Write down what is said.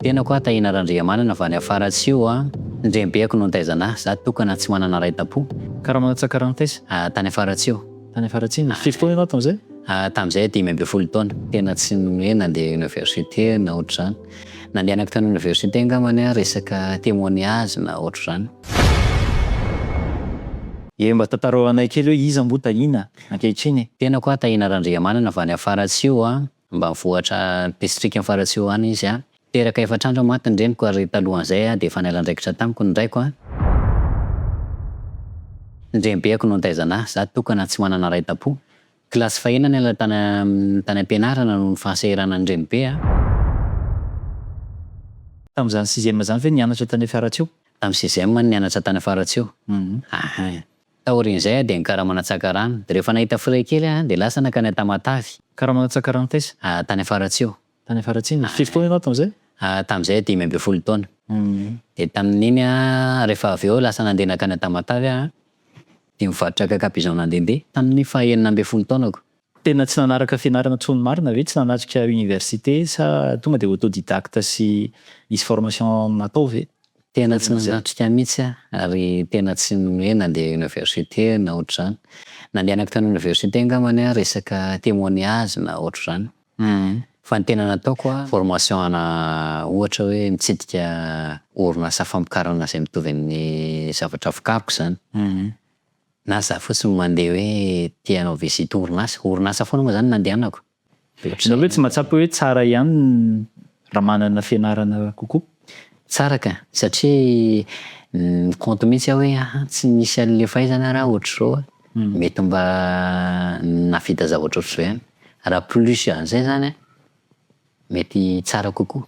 Tenako aho Tahina Randriamanana avy any Afaratsio a, ny renibeako no nitaizana ahy, za tokana tsy manana ray tampo. Karama Tsakarantaisa? Ah, tany Afaratsio. Tany Afaratsio? Ah. Firy taona ianao tamin'izay? Ah, tamin'izay dimy ambin'ny folo taona. Tena tsy hoe nandeha université na ohatr'izany. Nandehanako tany université angambany aho resaka témoignage na ohatr'izany. Ye, mba tantarao anay kely hoe iza moa Tahina ankehitriny e? Tenako aho Tahina Randriamanana avy any Afaratsio a, Ambanivohitra distrika ny Faratsiho any izy. Teraka efatra andro mantsy ny reniko ary talohan'izay dia efa niala andraikitra tamiko ny raiko. Ny renibeko no nitaizana ahy, izaho tokana tsy manana ray tam-po. Kilasy fahiny aho niala tany am-pianarana noho ny fahasahiranan'ny renibe. Tamin'izany sixième izany ve nianatra tany Faratsiho? Tamin'ny sixième aho nianatra tany Faratsiho. Taorian'izay dia nikaramana tsakarano, dia rehefa nahita frais kely aho dia lasa nankany Tamatave. Nikaramana tsakarano taiza? Tany Afaratsio. Tany Afaratsio. Firy taona ianao tamin'izay? Tamin'izay dimy ambin'ny folo taona. Dia tamin'iny aho, rehefa avy eo lasa nandeha nankany Tamatave aho dia nivarotra cacapigeon nandehandeha, tamin'ny faha enina ambin'ny folo taonako. Tena tsy nanaraka fianarana tsony marina ve? Tsy nanatrika université sa tonga dia autodidacte sy nisy formation natao ve? Tena tsy nanatrika mihitsy aho ary tena tsy hoe nandeha université na ohatr'izany. Nandehanako tany université angamba ny ahy resaka témoignage na ohatr'izany fa ny tena nataoko aho formation ana ohatra hoe mitsidika orinasa famokarana izay mitovy amin'ny zavatra vokariko izany. Na za fotsiny no mandeha hoe te hanao visite orinasa, orinasa foana moa zany no nandehanako. Ianao ve tsy mahatsapa hoe tsara ihany raha manana fianarana kokoa? Tsara ka! Satria mi-compte mihitsy aho hoe aha, tsy nisy an'le fahaizana raha ohatr'izao a, mety mba nahavita zavatra ohatr'izao ihany. Raha plus an'izay zany a, mety tsara kokoa.